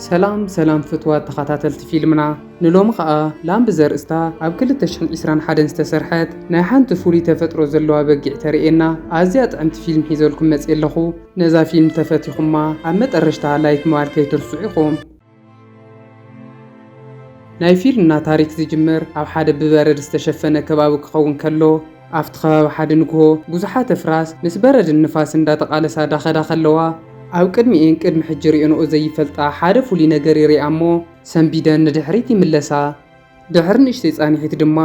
ሰላም ሰላም ፍትዋት ተኸታተልቲ ፊልምና ንሎሚ ኸኣ ላም ብዘርእስታ ኣብ 2021 ዝተሰርሐት ናይ ሓንቲ ፍሉይ ተፈጥሮ ዘለዋ በጊዕ ተርእየና ኣዝያ ጥዕምቲ ፊልም ሒዘልኩም መጽ ኣለኹ ነዛ ፊልም ተፈቲኹማ ኣብ መጠረሽታ ላይክ ምባል ከይትርስዑ ኢኹም ናይ ፊልና ታሪክ ዝጅምር ኣብ ሓደ ብበረድ ዝተሸፈነ ከባቢ ክኸውን ከሎ ኣብቲ ከባቢ ሓደ ንግሆ ብዙሓት ኣፍራስ ምስ በረድን ንፋስን እንዳተቓለሳ ዳኸዳ ከለዋ ኣብ ቅድሚኤን ቅድሚ ሕጂ ሪኦንኦ ዘይፈልጣ ሓደ ፍሉይ ነገር ይሪኣ እሞ ሰንቢደን ንድሕሪት ይምለሳ። ድሕሪ ንእሽተይ ፃኒሒት ድማ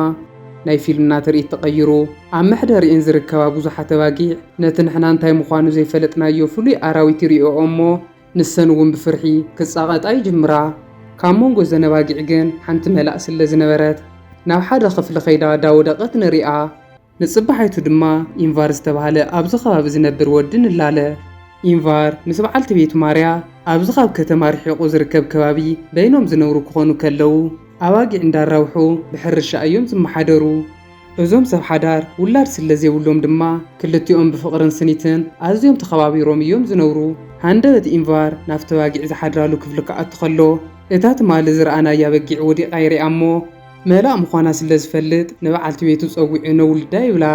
ናይ ፊልና ትርኢት ተቐይሩ ኣብ መሕደሪኤን ዝርከባ ብዙሓት ኣባጊዕ ነቲ ንሕና እንታይ ምዃኑ ዘይፈለጥናዮ ፍሉይ ኣራዊት ይሪኦኦ እሞ ንሰን እውን ብፍርሒ ክጻቐጣ ይጅምራ። ካብ መንጎ እዘን ኣባጊዕ ግን ሓንቲ መላእ ስለ ዝነበረት፣ ናብ ሓደ ኽፍሊ ከይዳ ዳወደቐት ንርኣ። ንጽባሒቱ ድማ ኢንቫር ዝተባህለ ኣብዚ ከባቢ ዝነብር ወዲ ንላለ። ኢንቫር ምስ በዓልቲ ቤቱ ማርያ ኣብዚ ካብ ከተማ ርሒቑ ዝርከብ ከባቢ በይኖም ዝነብሩ ክኾኑ ከለዉ፣ ኣባጊዕ እንዳራብሑ ብሕርሻ እዮም ዝመሓደሩ። እዞም ሰብ ሓዳር ውላድ ስለ ዜብሎም ድማ፣ ክልቲኦም ብፍቕርን ስኒትን ኣዝዮም ተኸባቢሮም እዮም ዚነብሩ። ሃንደበት ኢንቫር ናብቲ ኣባጊዕ ዚሓድራሉ ክፍሊ ኪኣቱ ኸሎ፣ እታ ትማሊ ዝረኣናያ በጊዕ ወዲቓ ይርኣ እሞ፣ መላእ ምዃና ስለ ዚፈልጥ ንበዓልቲ ቤቱ ጸዊዑ ነውልዳ ይብላ።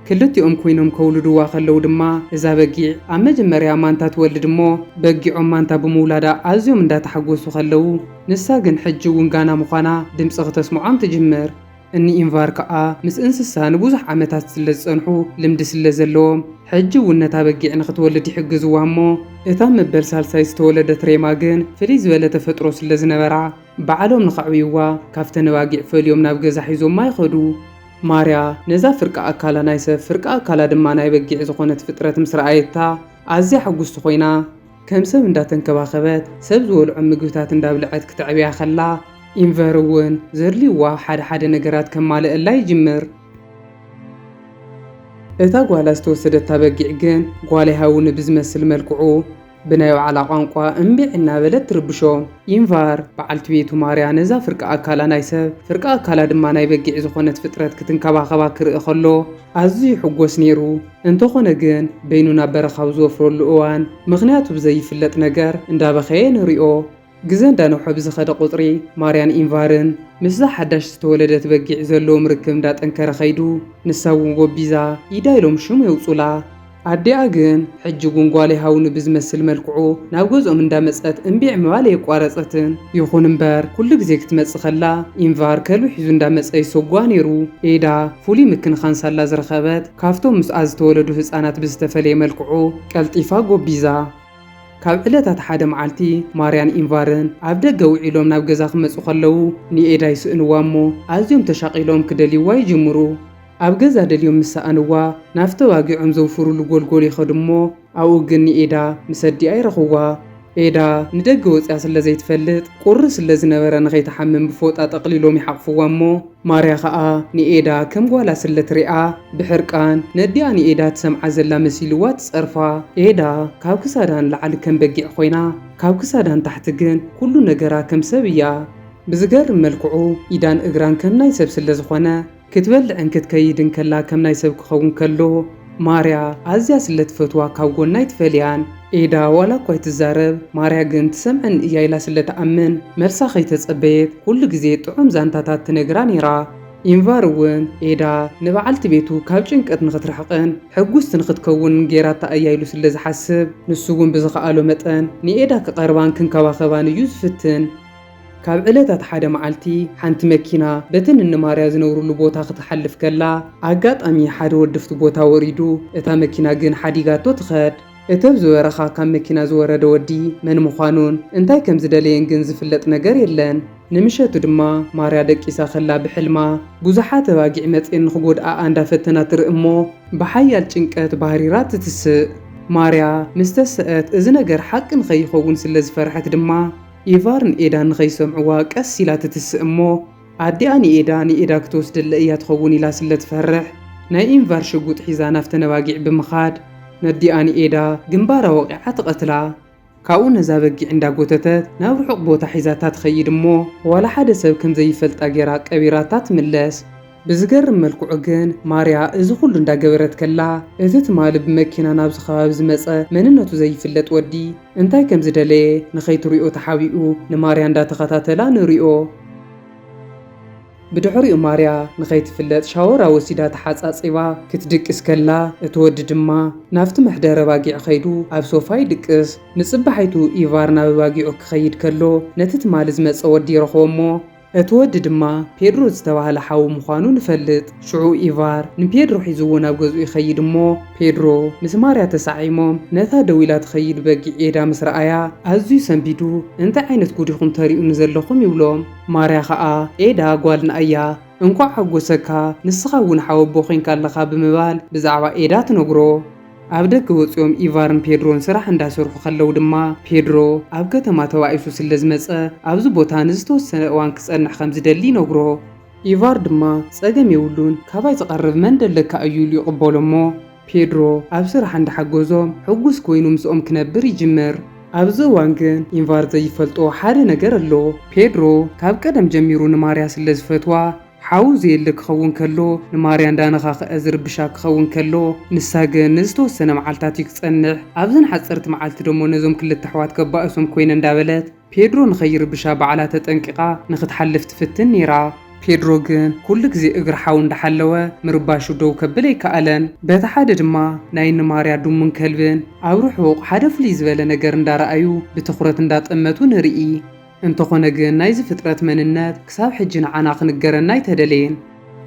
ክልቲኦም ኰይኖም ከውልድዋ ኸለዉ ድማ፣ እዛ በጊዕ ኣብ መጀመርያ ማንታ ትወልድ እሞ፣ በጊዖም ማንታ ብምውላዳ ኣዝዮም እንዳ ተሓጐሱ ኸለዉ፣ ንሳ ግን ሕጂ እውን ጋና ምዃና ድምጺ ኽተስምዖም ትጅምር። እኒ ኢንቫር ከኣ ምስ እንስሳ ንብዙሕ ዓመታት ስለ ዝጸንሑ ልምዲ ስለ ዘለዎም ሕጂ እውን ነታ በጊዕ ንኽትወልድ ይሕግዝዋ እሞ እታ መበል ሳልሳይ ዝተወለደት ሬማ ግን ፍልይ ዝበለ ተፈጥሮ ስለ ዝነበራ ባዕሎም ንኸዕብዩዋ ካብተን ኣባጊዕ ፈልዮም ናብ ገዛ ሒዞማ ይኸዱ። ማርያ ነዛ ፍርቂ ኣካላ ናይ ሰብ ፍርቂ ኣካላ ድማ ናይ በጊዕ ዝኾነት ፍጥረት ምስ ረኣየታ ኣዝያ ሕጉስቲ ኮይና፣ ከም ሰብ እንዳተንከባኸበት፣ ሰብ ዝበልዖም ምግብታት እንዳብልዐት ክተዕብያ ከላ፣ ኢንቨር እውን ዘድልዩዋ ሓደ ሓደ ነገራት ከማልእላ ይጅምር። እታ ጓላ ዝተወሰደታ በጊዕ ግን ጓለይ ሃውኒ ብዝመስል መልክዑ ብናይ ባዕላ ቋንቋ እምቢዕ እናበለት ትርብሾም። ኢንቫር፣ በዓልቲ ቤቱ ማርያ ነዛ ፍርቂ ኣካላ ናይ ሰብ፣ ፍርቂ ኣካላ ድማ ናይ በጊዕ ዝኾነት ፍጥረት ክትንከባኸባ ክርኢ ከሎ ኣዝዩ ይሕጎስ ነይሩ። እንተኾነ ግን በይኑ ናብ በረኻ ኣብ ዝወፍረሉ እዋን ምኽንያቱ ብዘይፍለጥ ነገር እንዳበኸየ ንሪኦ። ግዘ እንዳነውሐ ብዝኸደ ቁፅሪ ማርያን ኢንቫርን ምስዛ ሓዳሽ ዝተወለደት በጊዕ ዘለዎም ርክብ እንዳጠንከረ ከይዱ። ንሳ እውን ጎቢዛ ኢዳ ኢሎም ሽም የውፁላ። ኣዲኣ ግን ሕጂ እውን ጓለይ ሃውኒ ብዝመስል መልክዑ ናብ ገዝኦም እንዳመፀት እምቢዕ ምባል ኣየቋረፀትን። ይኹን እምበር ኩሉ ግዜ ክትመፅእ ከላ ኢንቫር ከልቢ ሒዙ እንዳመፀ ይሰጉዋ ነይሩ። ኤዳ ፍሉይ ምክንኻን ሳላ ዝረኸበት። ካብቶም ምስኣ ዝተወለዱ ህጻናት ብዝተፈለየ መልክዑ ቀልጢፋ ጎቢዛ። ካብ ዕለታት ሓደ መዓልቲ ማርያን ኢንቫርን ኣብ ደገ ውዒሎም ናብ ገዛ ክመጹ ከለዉ ንኤዳ ይስእንዋ እሞ ኣዝዮም ተሻቒሎም ክደልይዋ ይጅምሩ። ኣብ ገዛ ደልዮም ምስ ሰኣንዋ ናብቲ ተባጊዖም ዘውፍሩሉ ጎልጎል ይኸዱ እሞ፣ ኣብኡ ግን ንኤዳ ምስ ኣዲኣ ይረኽብዋ። ኤዳ ንደገ ወጺኣ ስለ ዘይትፈልጥ ቁሪ ስለ ዝነበረ ንኸይትሓምም ብፎጣ ጠቕሊሎም ይሓቕፍዋ እሞ ማርያ ከኣ ንኤዳ ከም ጓላ ስለ ትሪኣ ብሕርቃን ነዲኣ ንኤዳ ትሰምዓ ዘላ መሲልዋ ትጸርፋ። ኤዳ ካብ ክሳዳ ንላዕሊ ከም በጊዕ ኮይና ካብ ክሳዳ ንታሕቲ ግን ኩሉ ነገራ ከም ሰብ እያ። ብዝገርም መልክዑ ኢዳን እግራን ከም ናይ ሰብ ስለ ዝኾነ ክትበልዕን ክትከይድን ከላ ከም ናይ ሰብ ክኸውን ከሎ ማርያ ኣዝያ ስለ ትፈትዋ ካብ ጎና ኣይትፈልያን። ኤዳ ዋላ እኳ ኣይትዛረብ ማርያ ግን ትሰምዐኒ እያ ኢላ ስለ ትኣምን መልሳ ከይተጸበየት ኩሉ ግዜ ጥዑም ዛንታታት ትነግራ ነይራ። ኢንቫር እውን ኤዳ ንበዓልቲ ቤቱ ካብ ጭንቀት ንኽትርሕቕን ሕጉስቲ ንኽትከውንን ገይራታ እያ ኢሉ ስለ ዝሓስብ ንሱ እውን ብዝኸኣሎ መጠን ንኤዳ ክቐርባን ክንከባኸባን እዩ ዝፍትን። ካብ ዕለታት ሓደ መዓልቲ፣ ሓንቲ መኪና በተን እነማርያ ዝነብሩሉ ቦታ ክትሓልፍ ከላ፣ ኣጋጣሚ ሓደ ወዲ ኣብቲ ቦታ ወሪዱ እታ መኪና ግን ሓዲጋቶ ትኸድ። እቲ ኣብ ዝበረኻ ካብ መኪና ዝወረደ ወዲ መን ምዃኑን እንታይ ከም ዝደለየን ግን ዝፍለጥ ነገር የለን። ንምሸቱ ድማ ማርያ ደቂሳ ከላ ብሕልማ ብዙሓት ኣባጊዕ መጺኤን ንኽጎድኣኣ እንዳፈተና ትርኢ እሞ ብሓያል ጭንቀት ባህሪራ ትትስእ። ማርያ ምስ ተሰእት እዚ ነገር ሓቂ ንኸይኸውን ስለ ዝፈርሐት ድማ፣ ኤቫር ንኤዳ ንኸይሰምዕዋ ቀስ ኢላ ትትስእ እሞ ኣዲኣ ንኤዳ ንኤዳ ክትወስደለ እያ ትኸውን ኢላ ስለ ትፈርሕ ናይ ኢንቫር ሽጉጥ ሒዛ ናብተን ኣባጊዕ ብምኻድ ነዲኣ ንኤዳ ግንባራ ወቒዓ ትቐትላ። ካብኡ ነዛ በጊዕ እንዳ ጎተተት ናብ ርሑቕ ቦታ ሒዛታ ትኸይድ እሞ ዋላ ሓደ ሰብ ከም ዘይፈልጣ ጌራ ቀቢራታ ትምለስ። ብዝገርም መልክዑ ግን ማርያ እዚ ኩሉ እንዳገበረት ከላ እቲ ትማሊ ብመኪና ናብዚ ከባቢ ዝመጸ መንነቱ ዘይፍለጥ ወዲ እንታይ ከም ዝደለየ ንኸይትሪኦ ተሓቢኡ ንማርያ እንዳተኸታተላ ንሪኦ። ብድሕሪኡ ማርያ ንኸይትፍለጥ ሻወራ ወሲዳ ተሓጻጺባ ክትድቅስ ከላ እቲ ወዲ ድማ ናብቲ መሕደሪ ኣባጊዕ ኸይዱ ኣብ ሶፋ ይድቅስ። ንጽባሒቱ ኢቫር ናብ ኣባጊዑ ክኸይድ ከሎ ነቲ ትማሊ ዝመጸ ወዲ ይረኽቦ እሞ፣ እቲ ወዲ ድማ ፔድሮ ዝተባህለ ሓዉ ምዃኑ ንፈልጥ። ሽዑ ኢቫር ንፔድሮ ሒዝዎ ናብ ገዝኡ ይኸይድ እሞ፣ ፔድሮ ምስ ማርያ ተሳዒሞም ነታ ደው ኢላ ትኸይድ በጊዕ ዬዳ ምስ ረኣያ ኣዝዩ ሰንቢዱ እንታይ ዓይነት ጉድ ኢኹም ተርእዩኒ ዘለኹም ይብሎም። ማርያ ኸኣ ዬዳ ጓልና እያ እንኳዕ ሓጎሰካ ንስኻ እውን ሓወቦ ኮይንካ ኣለኻ ብምባል ብዛዕባ ዬዳ ትነግሮ። ኣብ ደገ ወጺኦም ኢቫርን ፔድሮን ስራሕ እንዳሰርሑ ከለው ድማ ፔድሮ ኣብ ከተማ ተባኢሱ ስለ ዝመጸ ኣብዚ ቦታ ንዝተወሰነ እዋን ክጸንሕ ከም ዝደሊ ይነግሮ። ኢቫር ድማ ጸገም የብሉን ካባይ ዝቐርብ መን ደለካ እዩ ኢሉ ይቕበሎ እሞ ፔድሮ ኣብ ስራሕ እንዳሓገዞም ሕጉስ ኮይኑ ምስኦም ክነብር ይጅምር። ኣብዚ እዋን ግን ኢቫር ዘይፈልጦ ሓደ ነገር ኣሎ። ፔድሮ ካብ ቀደም ጀሚሩ ንማርያ ስለ ዝፈትዋ ሓው ዘየለ ክኸውን ከሎ፣ ንማርያ እንዳነኻኽዐ ዝርብሻ ክኸውን ከሎ፣ ንሳ ግን ንዝተወሰነ መዓልታት እዩ ክጸንሕ፣ ኣብዘን ሓጸርቲ መዓልቲ ደሞ ነዞም ክልተ ኣሕዋት ከባእሶም ኮይነ እንዳበለት ፔድሮ ንኸይርብሻ ባዕላ ተጠንቂቓ ንኽትሓልፍ ትፍትን ኔራ። ፔድሮ ግን ኩሉ ግዜ እግሪ ሓው እንዳሓለወ ምርባሹ ደው ከብል ኣይከኣለን። በቲ ሓደ ድማ ናይ ንማርያ ድሙን ከልብን ኣብ ርሑቕ ሓደ ፍልይ ዝበለ ነገር እንዳረኣዩ ብትኹረት እንዳጠመቱ ንርኢ። እንተኾነ ግን ናይዚ ፍጥረት መንነት ክሳብ ሕጂ ንዓና ክንገረና ኣይተደለየን።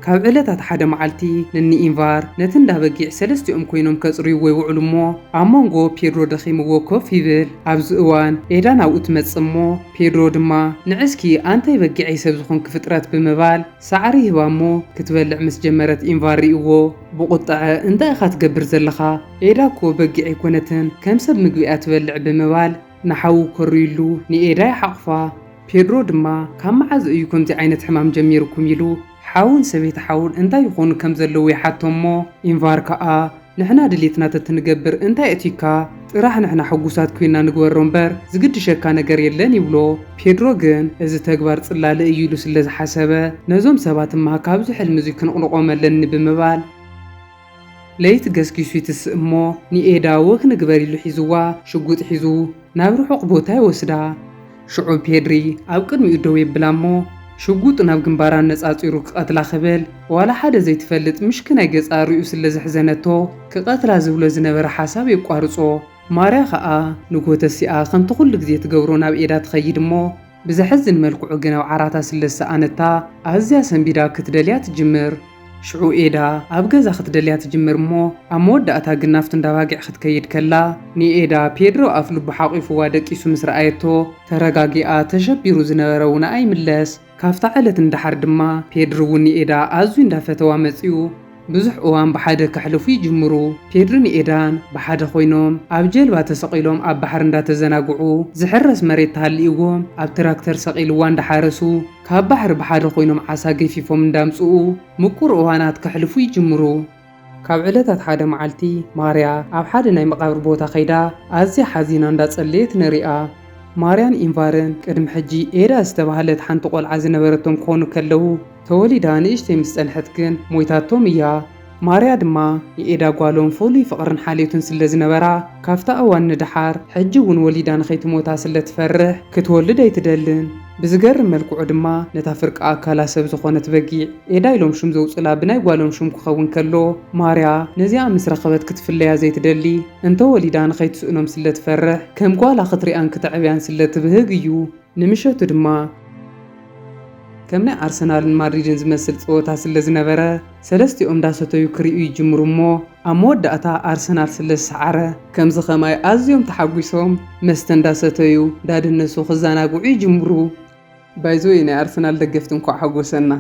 ካብ ዕለታት ሓደ መዓልቲ ንኒ ኢንቫር ነቲ እንዳ በጊዕ ሰለስቲኦም ኮይኖም ከጽርይዎ ይውዕሉ እሞ ኣብ መንጎ ፔድሮ ደኺምዎ ኮፍ ይብል። ኣብዚ እዋን ኤዳን ኣብኡ ትመጽእ እሞ ፔድሮ ድማ ንዕስኪ ኣንተይ በጊዐይ ሰብ ዝኾንኪ ፍጥረት ብምባል ሳዕሪ ይህባ እሞ ክትበልዕ ምስ ጀመረት ኢንቫር ሪእዎ ብቑጠዐ እንታይ ኢኻ ትገብር ዘለኻ ኤዳ እኮ በጊዕ ኣይኮነትን ከም ሰብ ምግቢ እያ ትበልዕ ብምባል ንሓዉ ከርዩሉ ንኤዳ ይሓቑፋ። ፔድሮ ድማ ካብ መዓዝ እዩ ከምዚ ዓይነት ሕማም ጀሚሩኩም ኢሉ ሓዉን ሰበይቲ ሓዉን እንታይ ይኾኑ ከም ዘለዉ ይሓቶም እሞ ኢንቫር ከኣ ንሕና ድሌትና ተትንገብር እንታይ የእትዩካ ጥራሕ ንሕና ሕጉሳት ኮይና ንግበሮ እምበር ዝግድሸካ ነገር የለን ይብሎ ፔድሮ ግን እዚ ተግባር ጽላለ እዩ ኢሉ ስለ ዝሓሰበ ነዞም ሰባት እማ ካብዚ ሕልሚ እዙይ ክንቕልቖም ኣለኒ ብምባል ለይቲ ገስጊሱ ይትስእ እሞ ንኤዳ ወክ ንግበር ኢሉ ሒዝዋ ሽጉጥ ሒዙ ናብ ርሑቕ ቦታ ይወስዳ። ሽዑ ፔድሪ ኣብ ቅድሚኡ ደው የብላ እሞ ሽጉጡ ናብ ግንባራ ኣነጻጺሩ ክቐትላ ክብል ዋላ ሓደ ዘይትፈልጥ ምሽክናይ ገጻ ርእዩ ስለ ዘሕዘነቶ ክቐትላ ዝብሎ ዝነበረ ሓሳብ የቋርጾ። ማርያ ከኣ ንጎተሲኣ ከምቲ ኩሉ ግዜ ትገብሮ ናብ ኤዳ ትኸይድ እሞ ብዘሕዝን መልክዑ ግን ኣብ ዓራታ ስለ ዝሰኣነታ ኣዝያ ሰንቢዳ ክትደልያ ትጅምር። ሽዑ ኤዳ ኣብ ገዛ ክትደልያ ትጅምር እሞ ኣብ መወዳእታ ግን ናብቲ እንዳ ኣባጊዕ ክትከይድ ከላ ንኤዳ ፔድሮ ኣፍ ልቡ ሓቚፉዋ ደቂሱ ምስ ረኣየቶ ተረጋጊኣ ተሸቢሩ ዝነበረ ውነኣ ይምለስ። ካብታ ዕለት ንደሓር ድማ ፔድር'ውን ንኤዳ ኣዝዩ እንዳፈተዋ መጺኡ። ብዙሕ እዋን ብሓደ ከሕልፉ ይጅምሩ። ፔድሪ ን ኤዳን ብሓደ ኮይኖም ኣብ ጀልባ ተሰቒሎም ኣብ ባሕሪ እንዳተዘናግዑ ዝሕረስ መሬት ተሃሊእዎም ኣብ ትራክተር ሰቒልዋ እንዳሓረሱ ካብ ባሕሪ ብሓደ ኮይኖም ዓሳ ገፊፎም እንዳምጽኡ ምቁር እዋናት ከሕልፉ ይጅምሩ። ካብ ዕለታት ሓደ መዓልቲ ማርያ ኣብ ሓደ ናይ መቓብር ቦታ ከይዳ ኣዝያ ሓዚና እንዳጸለየት ንሪኣ። ማርያን ኢንቫርን ቅድሚ ሕጂ ኤዳ ዝተባህለት ሓንቲ ቆልዓ ዝነበረቶም ክኾኑ ከለው ተወሊዳ ንእሽተይ ምስ ጸንሐት ግን ሞይታቶም እያ። ማርያ ድማ ንኤዳ ጓሎም ፍሉይ ፍቕርን ሓልዮትን ስለ ዝነበራ፣ ካብታ እዋን ንደሓር፣ ሕጂ እውን ወሊዳ ንኸይትሞታ ስለ ትፈርሕ፣ ክትወልድ ኣይትደልን። ብዝገርም መልክዑ ድማ ነታ ፍርቂ ኣካላ ሰብ ዝኾነት በጊዕ፣ ኤዳ ኢሎም ሽም ዘውጹላ ብናይ ጓሎም ሽም ክኸውን ከሎ፣ ማርያ ነዚኣ ምስ ረኸበት ክትፍለያ ዘይትደሊ፣ እንተ ወሊዳ ንኸይትስእኖም ስለ ትፈርሕ፣ ከም ጓላ ክትሪኣን ክተዕብያን ስለ ትብህግ እዩ። ንምሸቱ ድማ። ከም ናይ ኣርሰናልን ማድሪድን ዝመስል ጸወታ ስለ ዝነበረ፣ ሰለስቲኦም እንዳሰተዩ ክርእዩ ይጅምሩ እሞ ኣብ መወዳእታ ኣርሰናል ስለ ዝሰዓረ፣ ከምዚ ከማይ ኣዝዮም ተሓጒሶም መስተ እንዳሰተዩ እንዳደነሱ ክዘናግዑ ይጅምሩ። ባይዘወይ ናይ ኣርሰናል ደገፍቲ እንኳዕ ሓጎሰና።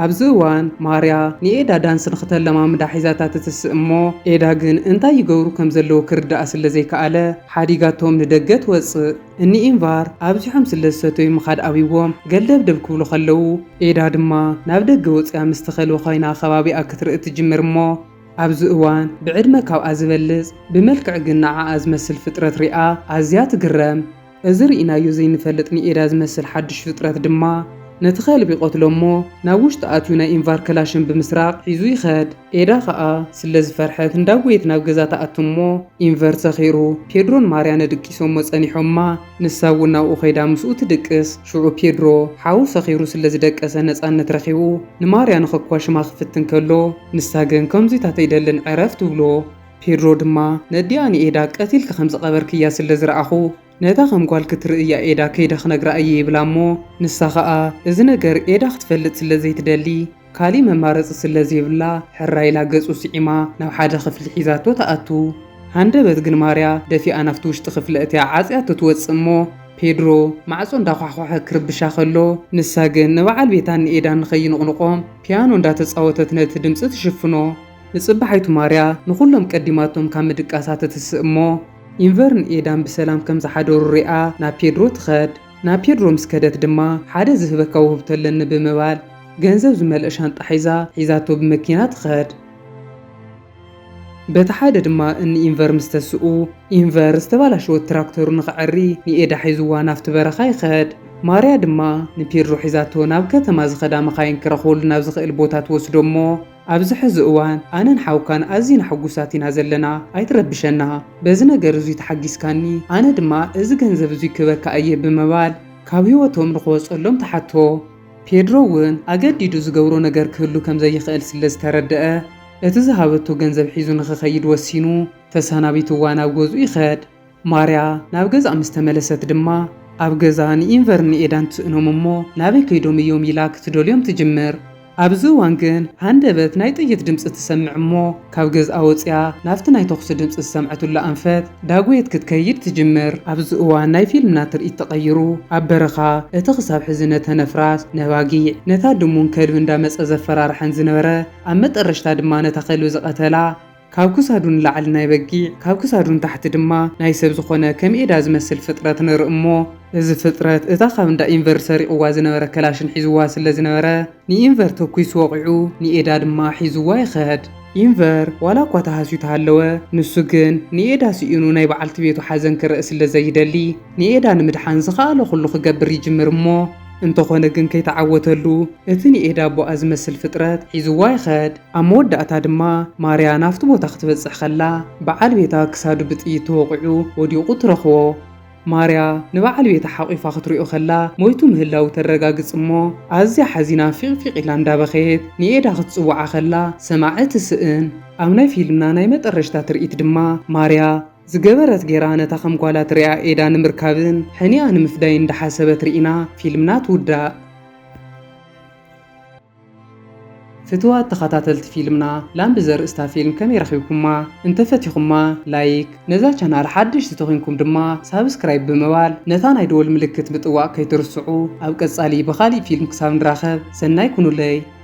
ኣብዚ እዋን ማርያ ንኤዳ ዳንስ ንኽተለማምዳ ሒዛታ ትትስእ እሞ ኤዳ ግን እንታይ ይገብሩ ከም ዘለዉ ክርድኣ ስለ ዘይከኣለ ሓዲጋቶም ንደገ ትወጽእ። እኒ ኢንቫር ኣብዚሖም ስለ ዝሰተዩ ምኻድ ኣብይዎም ገልደብደብ ክብሉ ከለዉ ኤዳ ድማ ናብ ደገ ወጺኣ ምስቲ ከልቢ ኮይና ከባቢኣ ክትርኢ ትጅምር እሞ ኣብዚ እዋን ብዕድመ ካብኣ ዝበልጽ ብመልክዕ ግን ንዓኣ ዝመስል ፍጥረት ሪኣ ኣዝያ ትግረም። እዚ ርኢናዮ ዘይንፈልጥ ንኤዳ ዝመስል ሓድሽ ፍጥረት ድማ ነቲ ከልቢ ይቐትሎ እሞ ናብ ውሽጢ ኣትዩ ናይ ኢንቫር ከላሽን ብምስራቕ ሒዙ ይኸድ። ኤዳ ከኣ ስለ ዝፈርሐት እንዳጎየት ናብ ገዛ ትኣቱ እሞ ኢንቨር ሰኺሩ። ፔድሮን ማርያነ ድቂሶሞ ጸኒሖማ ንሳ እውን ናብኡ ከይዳ ምስኡ ትድቅስ። ሽዑ ፔድሮ ሓው ሰኺሩ ስለ ዝደቀሰ ነጻነት ረኺቡ ንማርያ ንኸኳሽማ ክፍትን ከሎ ንሳ ግን ከምዙይታት ኣይደልን ዕረፍ ትብሎ። ፔድሮ ድማ፣ ነዲኣ ንኤዳ ቀቲልኪ ከም ዝቐበርክያ ስለ ዝረኣኹ፣ ነታ ከም ጓል ክትርእያ ኤዳ ከይደ ክነግራ እየ ይብላ እሞ፣ ንሳ ኸኣ እዚ ነገር ኤዳ ክትፈልጥ ስለ ዘይትደሊ ካልእ መማረጺ ስለ ዘይብላ ሕራይ ኢላ ገጹ ስዒማ ናብ ሓደ ክፍሊ ሒዛቶ ትኣቱ። ሃንደበት ግን ማርያ ደፊኣ ናብቲ ውሽጢ ክፍሊ ኣእትያ ዓጽያቶ ትወጽእ እሞ፣ ፔድሮ ማዕጾ እንዳዃሕኳሐ ክርብሻ ከሎ ንሳ ግን ንበዓል ቤታን ንኤዳን ንኸይንቕንቖም ፒያኖ እንዳተጻወተት ነቲ ድምጺ ትሽፍኖ። ንጽባሒቱ ማርያ ንኹሎም ቀዲማቶም ካብ ምድቃሳ ትትስእ እሞ፣ ኢንቨርን ኤዳን ብሰላም ከም ዝሓደሩ ሪኣ ናብ ፔድሮ ትኸድ። ናብ ፔድሮ ምስ ከደት ድማ ሓደ ዝህበካ ውህብቶ ኣለኒ ብምባል ገንዘብ ዝመልኦ ሻንጣ ሒዛ ሒዛቶ ብመኪና ትኸድ። በቲ ሓደ ድማ እኒ ኢንቨር ምስ ተስኡ፣ ኢንቨር ዝተባላሸወት ትራክተሩ ንኸዐሪ ንኤዳ ሒዝዋ ናብቲ በረኻ ይኸድ። ማርያ ድማ ንፔድሮ ሒዛቶ ናብ ከተማ ዝኸዳ መኻይን ክረኽበሉ ናብ ዝኸእል ቦታ ትወስዶ እሞ፣ ኣብዚ ሕዚ እዋን ኣነን ሓውካን ኣዚና ሕጉሳት ኢና ዘለና ኣይትረብሸና በዚ ነገር እዙይ ተሓጊስካኒ ኣነ ድማ እዚ ገንዘብ እዙይ ክበካ እየ ብምባል ካብ ህይወቶም ንክወፀሎም ተሓቶ። ፔድሮ እውን ኣገዲዱ ዝገብሮ ነገር ክህሉ ከምዘይኽእል ስለዝተረደኣ እቲ ዝሃበቶ ገንዘብ ሒዙ ንክኸይድ ወሲኑ ተሳናቢትዋ ናብ ገዝኡ ይኸድ። ማርያ ናብ ገዝኣ ምስ ተመለሰት ድማ ኣብ ገዛ ንኢንቨርን ንኤዳን ትስእኖም እሞ ናበይ ከይዶም እዮም ኢላ ክትደልዮም ትጅምር። ኣብዚ እዋን ግን ሃንደበት ናይ ጥይት ድምጺ ትሰምዕ እሞ ካብ ገዝኣ ወጺኣ ናብቲ ናይ ተኹሲ ድምጺ ዝሰምዐትሉ ኣንፈት ዳጎየት ክትከይድ ትጅምር። ኣብዚ እዋን ናይ ፊልምና ትርኢት ተቐይሩ ኣብ በረኻ እቲ ክሳብ ሕዚ ነተን ኣፍራስ፣ ነባጊዕ፣ ነታ ድሙን ከልቢ እንዳመጸ ዘፈራርሐን ዝነበረ ኣብ መጠረሽታ ድማ ነታ ከልቢ ዝቐተላ፣ ካብ ክሳዱ ንላዕሊ ናይ በጊዕ፣ ካብ ክሳዱ ንታሕቲ ድማ ናይ ሰብ ዝኾነ ከም ኤዳ ዝመስል ፍጥረት ንርኢ እሞ፣ እዚ ፍጥረት እታ ካብ እንዳ ኢንቨር ሰሪቑዋ ዝነበረ ከላሽን ሒዙዋ ስለ ዝነበረ፣ ንኢንቨር ተኲሱ ወቒዑ፣ ንኤዳ ድማ ሒዙዋ ይኸድ። ኢንቨር ዋላ እኳ ተሃስዩ ተሃለወ፣ ንሱ ግን ንኤዳ ስኢኑ ናይ በዓልቲ ቤቱ ሓዘን ክረእ ስለ ዘይደሊ፣ ንኤዳ ንምድሓን ዝኸኣሎ ኩሉ ክገብር ይጅምር እሞ፣ እንተኾነ ግን ከይተዓወተሉ፣ እቲ ንኤዳ ኣቦኣ ዝመስል ፍጥረት ሒዙዋ ይኸድ። ኣብ መወዳእታ ድማ ማርያ ናብቲ ቦታ ክትበጽሕ ከላ በዓል ቤታ ክሳዱ ብጥይት ተወቒዑ ወዲቑ ትረኽቦ። ማርያ ንበዓል ቤታ ሓቝፋ ክትሪኦ ከላ ሞይቱ ምህላዉ ተረጋግጽ እሞ ኣዝያ ሓዚና ፊቕ ፊቕ ኢላ እንዳበኸየት ንኤዳ ክትጽውዓ ከላ ሰማዒ ትስእን። ኣብ ናይ ፊልምና ናይ መጠረሽታ ትርኢት ድማ ማርያ ዝገበረት ጌራ ነታ ከም ጓላ ትሪኣ ኤዳ ንምርካብን ሕኒኣ ንምፍዳይን እንዳሓሰበት ሪኢና ፊልምና ትውዳእ። ፍትዋት ተኻታተልቲ ፊልምና ላምቢ ዘርእስታ ፊልም ከመይ ረኺብኩማ እንተ ፈቲኹማ ላይክ ነዛ ቻናል ሓደሽቲ ተኾንኩም ድማ ሳብስክራይብ ብምባል ነታ ናይ ደወል ምልክት ምጥዋቅ ከይትርስዑ ኣብ ቀጻሊ ብኻሊእ ፊልም ክሳብ ንራኸብ ሰናይ ኩኑለይ